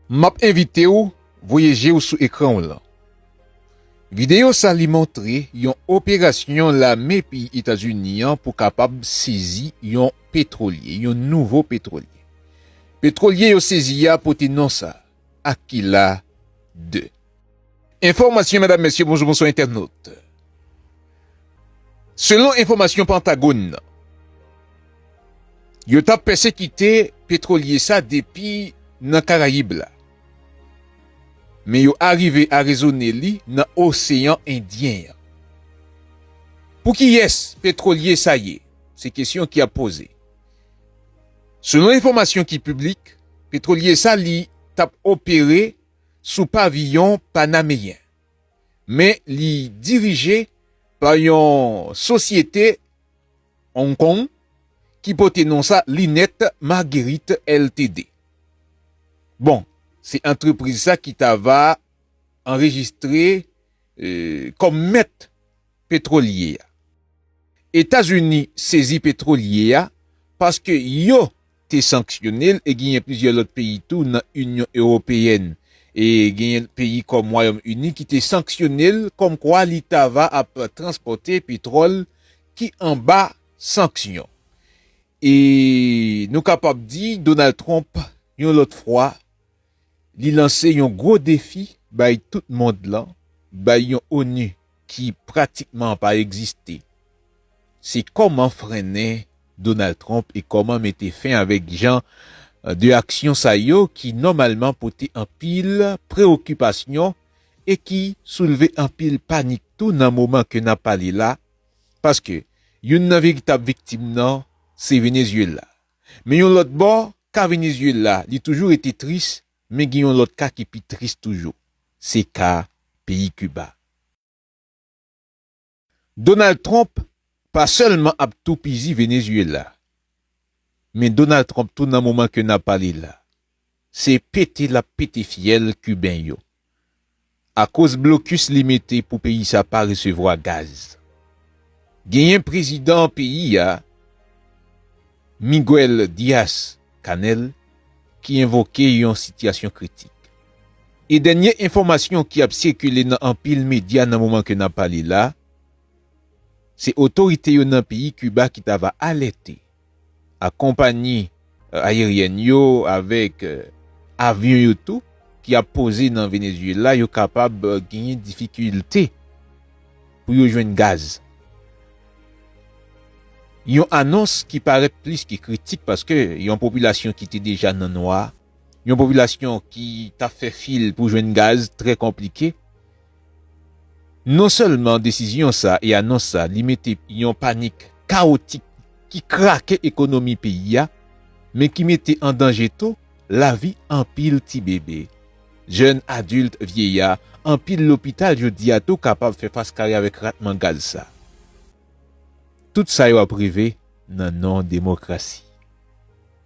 M ap envite w voye je w sou ekran w lan. Videyo sa li montre yon operasyon lame peyi Etazini an pou kapab sezi yon petwolye, yon nouvo petwolye. Petwolye yo sezi a pote non sa, Aquila ii. Enfòmasyon Medam Mesye Bonjou Bonswa Entènot Selon enfòmasyon Pantagon nan yo tap pèsekite petwolye sa depi nan Karayib la men yo arive arezone li nan Oseyan Endyen an Pou kiyès petwolye sa ye? Se kesyon ki ap poze Selon enfòmasyon ki piblik petwolye sa li tap opere sou paviyon panameyen, men li dirije pa yon sosyete Hong Kong ki pote non sa Lunette Marguerite Ltd. Bon, se antrepriz sa ki ta va anrejistre kòm mèt petwolye a. Etazini sezi petwolye a paske yo. te sanksyone l e genyen plizyè lòt peyi tou nan Inyon Ewopeyèn e genyen peyi kòm Wayòm Ini ki te sanksyone l kòmkwa li ta va ap transpòte petwòl ki anba sanksyon. E nou kapab di Donald Trump yon lòt fwa Li lanse yon gwo defi bay tout mond lan, bay yon onu ki pratikman pa egziste. Se kòman frennen Donald Trump e kòman mete fen avèk jan de aksyon sa yo ki nòmalman pote anpil preokipasyon e ki soulve anpil panik tou nan moman ke nap pale la, paske youn nan veritab viktim nan se Venezuela. Men yon lòt bò, ka Venezyela li toujou rete tris men gen yon lòt ka ki pi tris toujou, se ka peyi Kiba. Donald Trump pa sèlman ap toupizi Venezyela, men Donald Trump tou nan moman ke n ap pale la, Se pete lap pete fyèl Kiben yo. Akoz blokis li mete pou peyi sa pa resevwa gaz. Genyen prezidan peyi a Miguel Diaz Canel ki envoke yon sitiyasyon kritik. E dènye enfòmasyon ki ap sikile nan anpil medya nan moman ke nap pale la, se otorite yo nan peyi Kiba ki ta va alète. ak konpanyi ayeryèn yo avèk avyon yo tou ki ap poze nan Venezuela yo kapab genyen difikilte pou yo jwenn gaz. Yon anons ki parèt plis ke kritik paske yon popilasyon ki te deja nan nwa, yon popilasyon ki tap fè fil pou jwenn gaz trè konplike. Non sèlman desizyon sa e anons sa li mete yon panik kawotik ki krake ekonomi peyi a, men ki mete an danje tou lavi anpil ti bebe, jèn, adilt, vyeya, anpil lopital jodi a tou kapab fè fas kare avèk ratman gaz sa. Tout sa yo ap rive nan non demokrasi.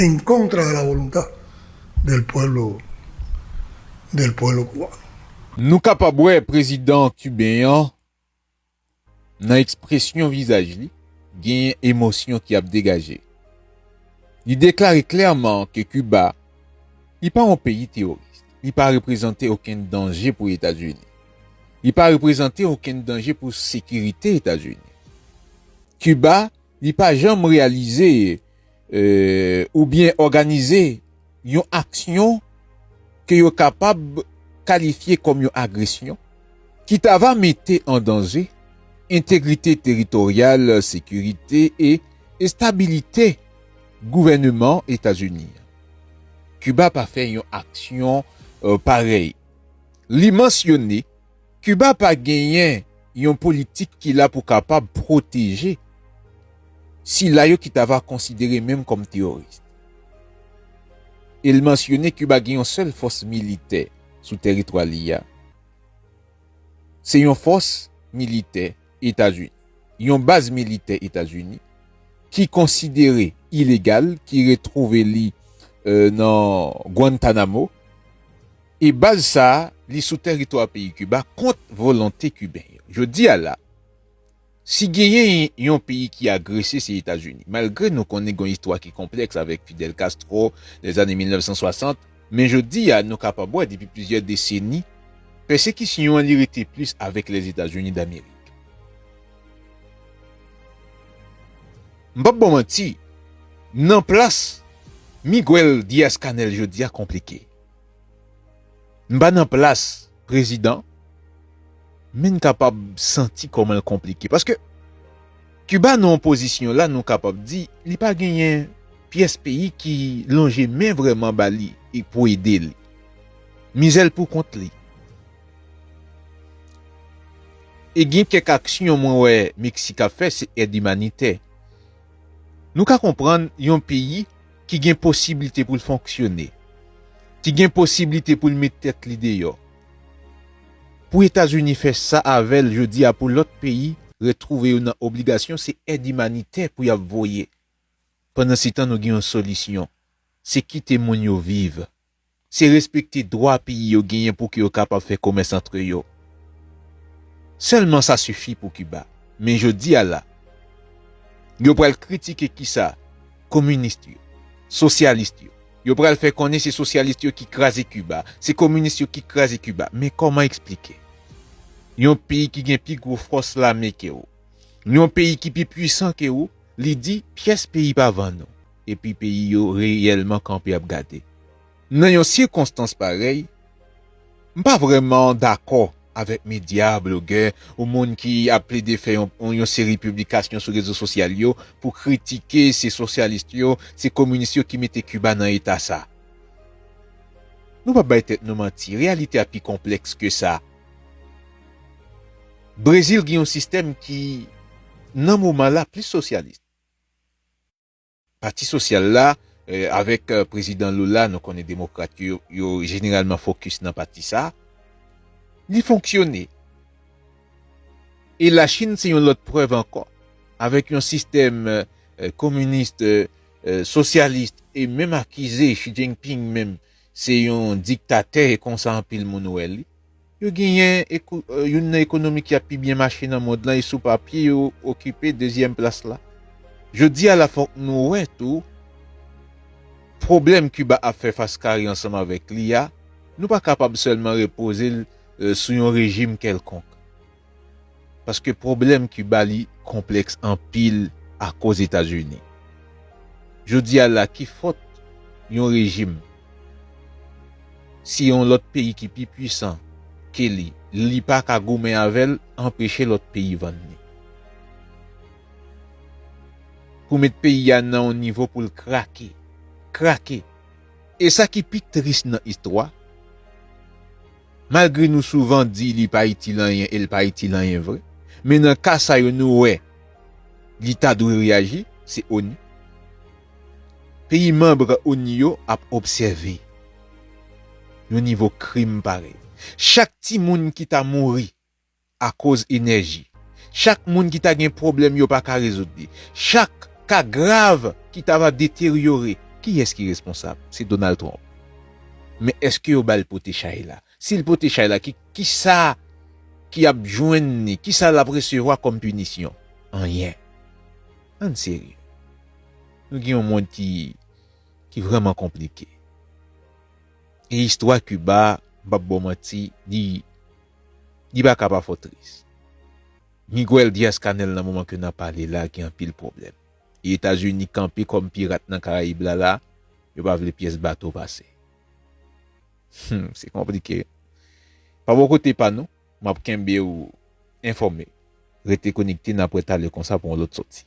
En contra de la voluntad del pueblo del pueblo cubano. Nou kapab wè prezidan Kiben an nan ekspresyon vizaj li, genyen emosyon ki ap degaje. Li deklare klèman ke Kiba, li pa yon peyi teworis, li pa reprezante okenn danje pou Etazini, li pa reprezante okenn danje pou sekirite Etazini. Kiba, li pa janm reyalize oubyen òganize yon aksyon ke yo kapab kalifye kòm yon agresyon ki ta va mete an danje entegrite teritoryal, sekirite e estabilite gouvèneman Etazini an. Kiba pa fè yon aksyon parèy. Li mansyone. Kiba pa genyen yon politik ki la pou kapab pwoteje sila yo ki ta va konsidere menm kòm teyoris. E l mansyone Kiba gen yon sèl fòs militè sou tèritwa li a. Se yon fòs militè Etazini, yon baz militè Etazini ki konsidere ilegal ki retwouve li nan Guantanamo. E baz sa a, li sou tèritwa peyi Kiba kont volonte Kiben yo. Jodi a la, si genyen yon peyi ki agrese se Etazini. Malgre nou konnen gen yon istwa ki konplèks avèk Fidel Castro, lèzane 1960, men jodi a nou kapab wè depi plizyè deseni, pèsekisyon an li rete plis avèk Lèzetazini Damerik. M p ap ba w manti, nan plas Miguel Diaz-Canel jodi a konplike. M pa nan plas prezidan men n kapab santi kòman l konplike paske Kiba nan pozisyon la nou kapab di li pa genyen pyès peyi ki lonje men vrèman ba li e pou ede li. Mizè l pou kont li. E gen kèk aksyon mwen wè Meksik ap fè se èd imanitè. Nou ka konprann yon peyi ki gen posiblite pou l fonksyone, ki gen posiblite pou l met tèt li deyò, pou Etazini fè sa avè l jodi a pou lòt peyi retwouve yo nan obligasyon se èd imanitè pou y ap voye. Pandansetan nou gen yon solisyon, se kite moun yo viv. se respekte dwa peyi yo genyen pouki yo kapab fè komès antre yo. Sèlman sa sifi pou Kiba. Men jodi a la, yo pral kritike kisa? Kominist yo, sosyalist yo. Yo pral fè konnen se sosyalist yo ki kraze Kiba, se kominist yo ki kraze Kiba. Men kòman eksplike? Yon peyi ki gen pi gwo fòs lame ke ou, yon peyi ki pi pwisan ke ou, li di, pyès peyi pa vann ou. epi peyi yo reyèlman kanpe ap gade. Nan yon sikonstans parèy, m pa vrèman dakò avèk medya, blogè, ou moun ki ap plede fè yon seri piblikasyon sou rezo sosyal yo pou kritike se sosyalis yo, se kominis yo ki mete Kiba nan eta sa. Nou pa bay tèt nou manti, reyalite a pi konplèks ke sa. Brezil gen yon sistèm ki, nan moman la, plis sosyalis. Pati Sosyal la, avèk Prezidan Lula, nou konnen Demokrat yo, yo jeneralman fokis nan pati sa, li fonksyone. E Lachin se yon lòt prèv ankò. Avèk yon sistèm kominis, sosyalis, e menm akize Xi Jinping menm se yon diktatè e konsa anpil moun wè li. Yo genyen youn nan ekonomi ki ap pi byen mache nan mond lan e sou papye yo okipe dezyèm plas la. Jodi a la fòk nou wè tou pwoblèm Kiba ap fè fas kare ansanm avèk li a, nou pa kapab sèlman repoze l sou yon rejim kèlkonk. paske pwoblèm Kiba li konplèks anpil akoz Etazini. Jodi a la ki fòt yon rejim si yon lòt peyi ki pi pwisan ke li, li pa ka goumen avè l anpeche lòt peyi vann li? Pou met peyi a nan yon nivo pou l krake, krake! E sa ki pi tris nan istwa, Malgre nou souvan di li pa itil anyen e l pa itil anyen vre, men nan ka sa yo nou wè li ta dwe reyaji, se onu. Peyi manb onu yo ap obsève yon nivo krim parèy. Chak timoun ki ta mouri akoz enèji. Chak moun ki ta gen pwoblèm yo pa ka rezoud li. Chak ka grav ki ta va deteryore. Kiyès ki responsab? Se Donald Trump. Men èske yo ba l pote chay la? Si l pote chay la, kisa ki ap jwenn li? Kisa l ap resevwa kòm pinisyon? Anyen. Ann serye. Nou gen yon mond ki vrèman konplike. E istwa Kiba, m p ap ba w manti, li Li pa ka pa fò tris. Miguel Diaz-Canel nan moman ke nap pale la gen anpil pwoblèm. E Etazini kanpe kòm pirat nan Karayib la la, yo pa vle pyès bato pase. Hum, se konplike. Pa bò kote pa nou, map kenbe ou enfòme. Rete konekte nap wè talè konsa pou yon lòt sòti.